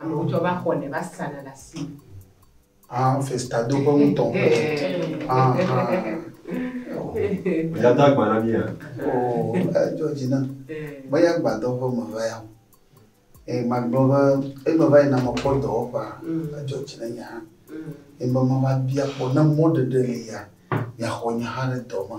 Amewo tsɔ va xɔ ne va sana le asi. Ah, festado ƒe ŋutɔ. Ah, Yada agba na mía. Oh, edzɔ dzi na. Be ya gbadɔ ƒe me va ya. Ee, magblɔ be eme va yina mekpɔ dɔwɔƒea, edzɔ dzi na nye hã. Ebe meva bia kpɔ ne mɔɖeɖe li ya, miaxɔ nye hã ɖe dɔ me.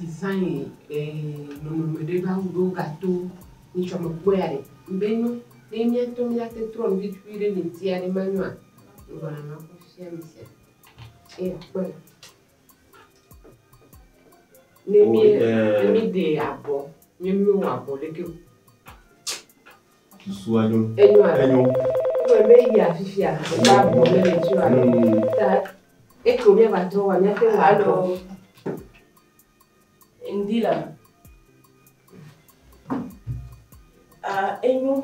Design e nɔnɔme ɖe va wu ɖe wo ga to ni tsɔ me kpɔe a ɖe ŋbe nyo ne mía tɔ mía te trɔ ŋɖe tukui ɖe ni ŋti a ɖe ma nyoa ŋgɔ na ma kpɔ fifia mi sia e a kpɔe la ne mí ne mí de abɔ ne mí wɔ abɔ ɖeke o. Susua nyo. Enyoa? Enyo. Egblɔ be eyi afifia wòkpɔ avɔ ɖe le ŋuti alo ta eke wòmia va trɔ wɔa miate ŋu akpɔ. Ŋdi la, ah enyo.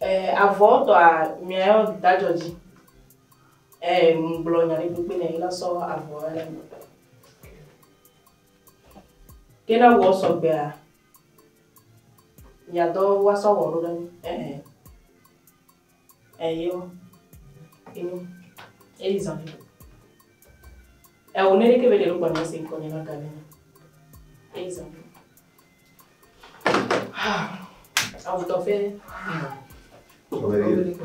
Eh avɔ tɔa mia yɔ da dzɔ dzi. Eh ŋgblɔ nya ɖe kpekpe nɛ ela sɔ avɔ ɖe. Ke ne wɔ sɔ gbea, mia dɔ wa sɔ wɔ ɖo ɖe ŋu. Ehe. Eyo. Eyo. Eyi zan. Ewo ne ke be ɖe lugba mese ko ne na gane. Eyi zan. Ha. Awu tɔ fe. Awu tɔ fe.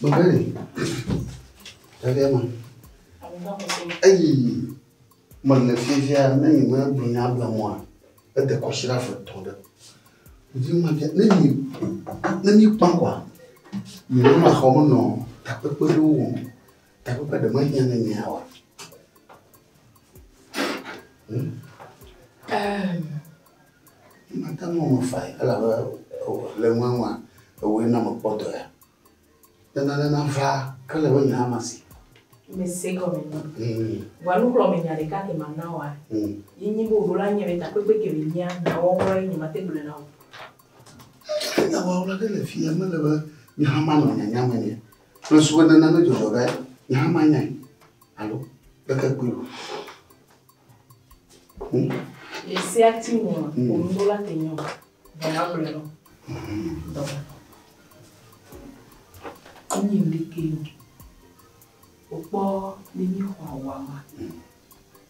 Bobeni, ɖevia ma. Eyi mele fiafia ne yi me gblɔ nya bla mɔa, ede kɔsira fe tɔ ɖe. Ɖevi ma bia ne yi ne mi kpa kwa, mi ne ma xɔ me nɔ takpekpe ɖe wo wɔm. Takpekpe ɖe ma hiã ne mi awa. Hmm? Um. Mate ŋu eme fae elabe le eŋueŋua, ewɔe na mekpɔ dɔ ya. Ne nane nava ke ele be nye hã masi. Mese gɔme nɛ. Vɔa nukplɔ me nya ɖeka ke mana woa, ye nyi be woɖo la nye be takpekpe ke be nyea, nyawɔwɔ ye nye mate gblɔe na wò. Nyawɔwɔ ɖe le fiya mele be nye hã manɔ nyanya me nɛ Kple subɔdana ne dzɔdzɔ ɖe nye hã manyae alo kpeke kpui o. Hmm? Esia ti mo hmm. onuɖo la te nyɔ dɔla gblɔ lɔ. Dɔla. Enyi ɖeke o. Okpɔ nenyi xɔ awama. Hmm.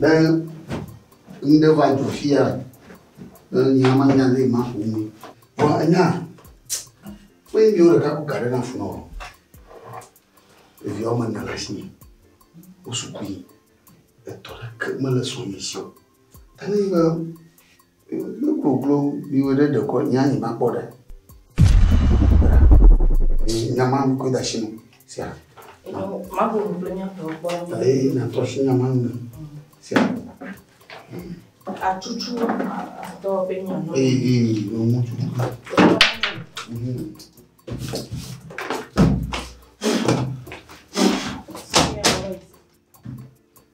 Be nu ɖe va dzɔ fia, be nya ma nya ɖe ma ƒo nu. Vɔ enya, kpe ɖeviwo ɖeka ku ga ɖe na funɔ o. Ɖevi woame ene le asi me. Wo sukui. Etɔ ɖeke mele sɔ mi si o. Enu yi be Ne goglo yi wɔ ɖe ɖekɔ nya yi ma kpɔ ɖe. Nya ma mi ko da shi no. Sia. Ma ko goglo nya tɔ kpɔ. Ee na tɔ shi nya ma nu. Sia. Atutu atɔ be nya no. Ee ee no mu tutu.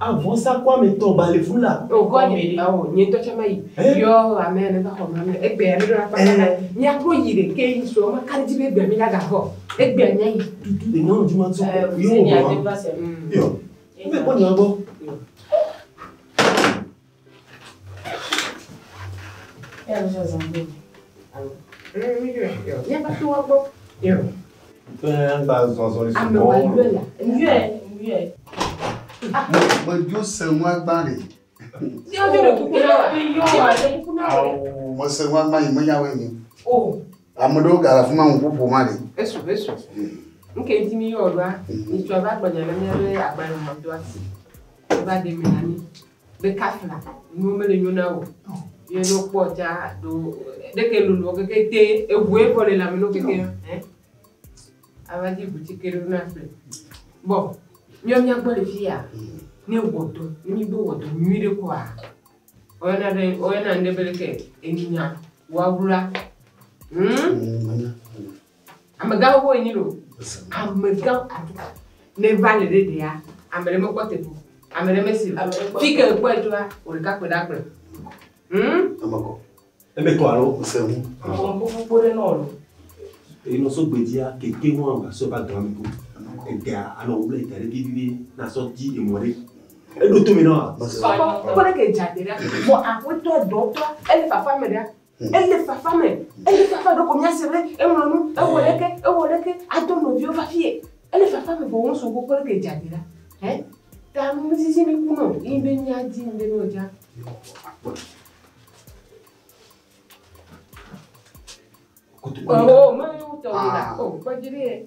A vɔsa kɔ ame tɔ ba le fu la. O kɔ me ɖe. Awo nye tɔ tsa me yi. Yɔ ame ne va xɔ me egbe ya ne ɖo la kpata na. Mia kɔ yi ɖe ke yi so ma kari ti be egbe mi la ga xɔ. Egbe nya yi. Tutu de nyɔnu dzi ma tso. Yɔ. Yɔ. Ne kɔ nyɔ gbɔ. Medzo se ŋu agbã ɖe. Mese ŋu agbã yi menya wɔ enyi. Ame ɖewo ga le afi ma ŋu ƒoƒo ma ɖe. Esu esu. Nke ŋuti mi yɔ ɖoa, mi tsɔ va gbɔnyɔ ne mi be agbalẽ ma do asi. Va ɖe mi na mi. Be kafla nuwo mele nyo na o. Ye ne wokpɔ tsa do ɖeke lolo keke te eʋue kɔ le lame no keke ɛ. Ava dzi ʋu tsike ɖo na fle. Bɔ nyɔ mía gbɔ le fi ya ne wɔdɔ ne mi do wɔdɔ nyui ɖe kɔa. Oyɔna ɖe oyɔna ŋɖe be ɖeke enyinya wawla. Hm. Amegã xoxo enyi lo. Amegã aɖe ne va le ɖe ɖea, ame ɖe mekpɔ te ƒo. Ame ɖe mesi o. Fi ke ekpɔ etoa, wò ɖeka kpe ɖa kplɔ. Hm? Eme kɔ. Eme kɔ alo ŋusẽ ŋu. Ŋusẽ ŋu kpokpo ɖe nɔ lo. Eyi nɔ so gbedzia, kete ŋu ava so va dɔa me ko. Edea anɔ wo ble da ɖe vivivi na sɔ di emɔ ɖe. Eɖo to me nɔ. Kpɔ ɖe ke dza te ɖa. Mɔ aƒetɔ dɔtɔ ele fafa me ɖa. Ele fafa me. Ele fafa ɖeko míase be eŋlɔ nu, ewɔ eh. ɖeke, ewɔ ɖeke, ado nɔviwo va fie. Ele fafa me vɔ ŋusu gbogbo ɖeke dza ɖi la. Hɛ? Ta mi sisi mi ku nɔ yi be mia di mi be nɔ dza. Koto. Oh, me ŋutɔ wula. Oh, kpɔdzi ɖe.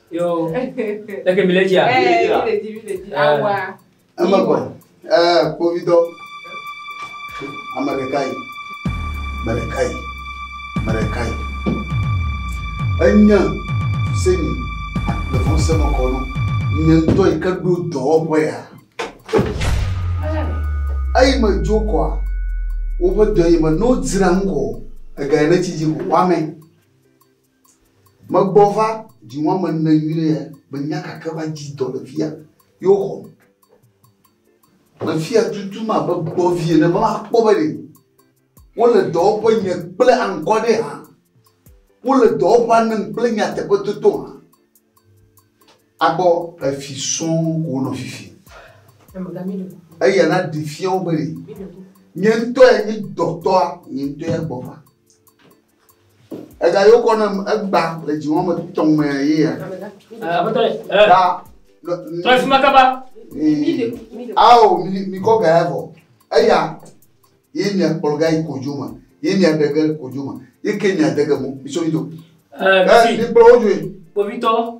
Yo. Leke mi le dzia? Eh, mi le dzi, mi le dzi. Awa. Eme kɔ. Eh, kpovitɔ. Ame ɖeka yi. Ame ɖeka yi. Ame ɖeka yi. Enye se mi le fɔ se me kɔ nɔ. Nye ŋutɔ yi ke ɖo dɔwɔƒe ya. Eyi me dzo kɔa. Woƒe dɔ yi me no dzra ŋkɔ. Ega yi ne tsi dzi ko wame. Megbɔ va dziŋɔ ame ene nyuiɖe ya menya gake va dzi dɔ le fia ye woxɔm. Mefia tutum abe gbɔvi ene be makpɔ be ɖe wole dɔwɔƒe nye kple ankɔ ɖe hã. Wole dɔwɔƒea nem kple nyateƒe toto hã. Akpɔ efi sɔŋ ko wonɔ fifi. Eya na ɖi fia wo be ɖe nye ŋutɔ ya nye dɔtɔa nye ŋutɔ ya gbɔ va. Ega yo kɔ nam egba le dzi wɔme tɔ̃ me ye ya. Da Trɔ fi ma kaba. Ao mi mi kɔ ga ya vɔ. Eya ye mi akplɔ ga yi kodzo me. Ye mi aɖe ge kodzo me. Ye ke mi ade ge mo. Mi so mi do. Mi kplɔ wo dzoe. Kpovitɔ.